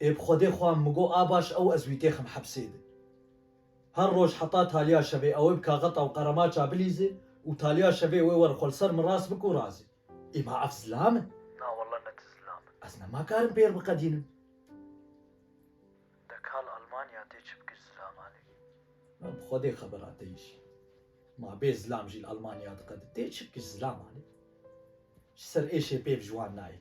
Ê bi Xwedê xwe min got a baş ew ez wî têxim hepsê di. Her roj heta taliya şevê ewê bi kaxeta û qeremaça bilîzi û taliya şevê wê were xwe li ser min rast bik û razî. Ê ma ev zilam in? Na walla ne ti zilam in. Ez nemakarim pêr biqedînim. De kal Almanya tê çi bikir zilaman ê? Na bi Xwedê xeber a te îşî. Ma bê zilam jî li Almanya diqedin tê çi bikir zilaman ê. Ji ser êşê pêv ji wan nayê.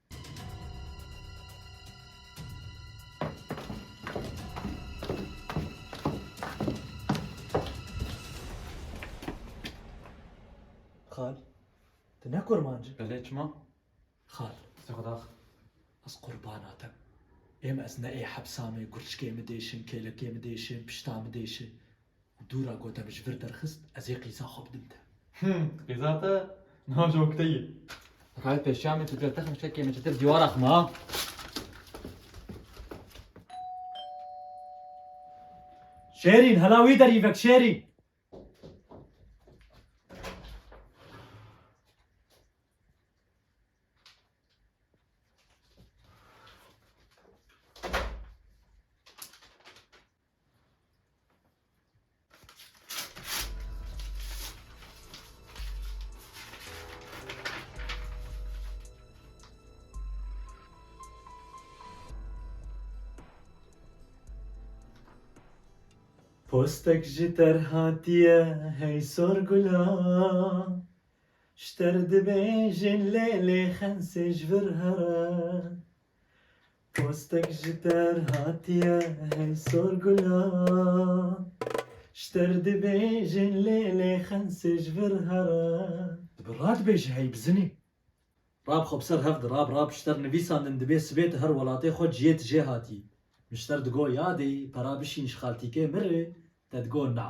Xal, tu ne kurman cî? Belê çima? Xal, Zixdax, ez qurbana te. Êm ez ne ê hepsa me, gurçkê min dêşin, kêlekê min dêşin, pişta min dêşin. Dûra ku te bi ji vir derxist ez ê qîza xwe bidim te. Him, qîza te niha ji oktê ye. Rayê pêşamê tu dûra te xim şekê min çetir dîwara xim a. Şêrîn, hela wî derî vek Şêrîn. Postek ji ter hatiye hey sor gula Ji ter dibêjin lê lê xensê ji vir here Postek ji der hatiye hey sor gulan Şter dibêjin lê lê xensê ji vir here. Dibe ra dibêje hey bi zinê Rab xwe bi ser hev di rab rab Şter nivîsandin dibê sibê tu her welatê xwe ciyê tu jê hatî Min şter digo yadê pera bişîn ji xaltîkê min rê te digo na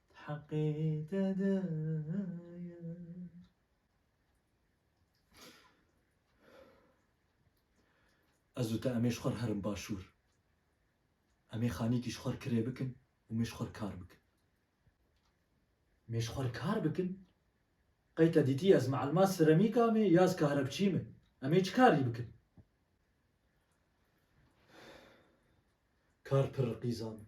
Heqê te de ye. Ez û te em ê ji xwe re herin başûr. Em ê xanîkî ji xwe re kirê bikin û em ê ji xwe re kar bikin. Em ê ji xwe re kar bikin. Qey te dîtî ez mielma seremîka me ya ez karebçî me? Em ê çi karî bikin? Kar pir riqîza min.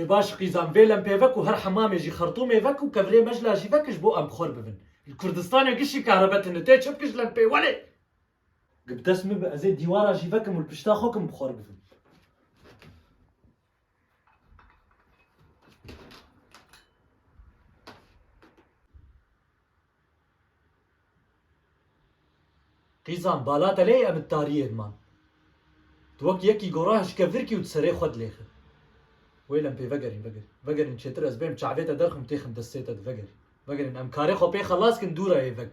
Ê baş qîzan vê lempê vek û her hemamê jî xertûmê vek û kevirê mejla jî vek jibo em bixwer bivin. Li Kurdistanê gişî kehrebe tini tê çi bikij lempê welê. Gi bi dest min be ez ê dîwara jî vekim û li pişta xwe kim bixwer bivim. Qîzan, bala te lê em di tariyê diman. Tu wek yekî gora hişke virkî û di serê xwe dilêxin. Wêl em pê vegerîn, vegerîn. Vegerîn çêtir ez bêm çavê te derxim têxim destê te di vegerîn. Vegerîn em karê xwe pê xelas kin dû re yê vek.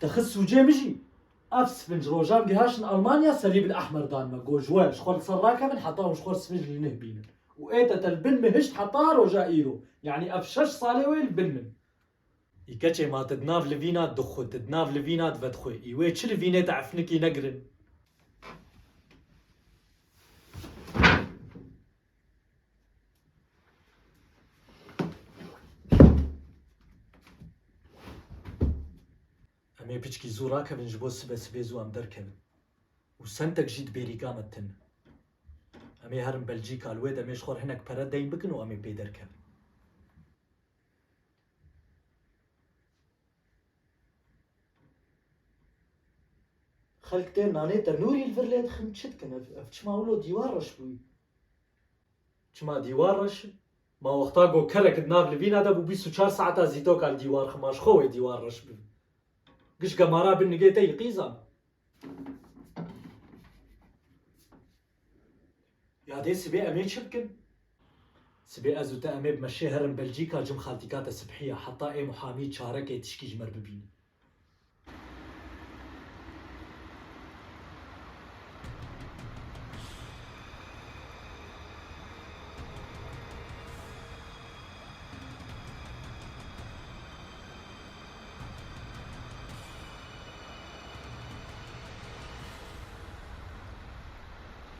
Te xist sûcê min jî. Ev spinc rojan gihaştin Almanya serî bil ehmer dan me got ji we ji xwe li ser rakevin heta hûn ji xwe spinc li nih bînin û ê te te li bin min hişt heta roja îro yanî ev şeş salê wê li bin min î keçê ma te di nav livîna di xwe te di nav livîna di vedxwê î wê çi livînê te efnikî negirin. Em ê piçkî zû rakevin ji bo sibe sibê zû em derkevin û semtek jî di bêrîga me tin in. Em ê herin Belcîka li wê demê ji xwe re hinek pere deyn bikin û em ê pê derkevin. Xelk tên nanê tenûrî li vir lê dixin çi dikin ev ev çima wilo dîwar reş bûyî? Çima dîwar reş e? Ma wexta ku kelek di nav livîna de bû bîst û çar saeta zîtoka li dîwar xima ji xwe wê dîwar reş bibe. Giş gemara bin nigê te yî qîzan. Ya dê sibê em ê çi bikin? Sibê ez û te em ê bi me şê herin Belcîka cim xaltîka te sibhîya heta ê muhamî çarekê tişkî ji me re bibînin.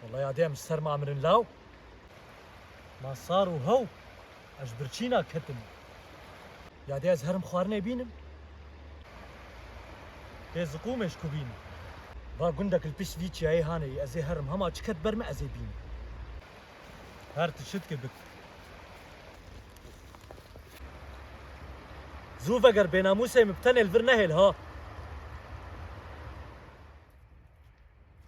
Wallahi adê em ji ser ma mirin law. Ma sar û how ez ji birçîna ketim. Yadê ez herim xwarinê bînim. Dê ziqûmê ji ku bînim. Va gundek li pişt vî çiyayê hane yî ezê herim hema çi ket ber min ezê bînim. Her ti şitke bik. Zû veger bênamûsê min bi tenê li vir nehêl ha.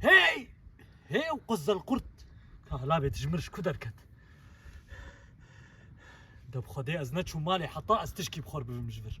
Hey! Hey ew qizilqurt! Kahlabê dijmir ji ku derket? De bi xwedê ez neçûm malê heta ez tişkî bi xwe re bibim ji vir.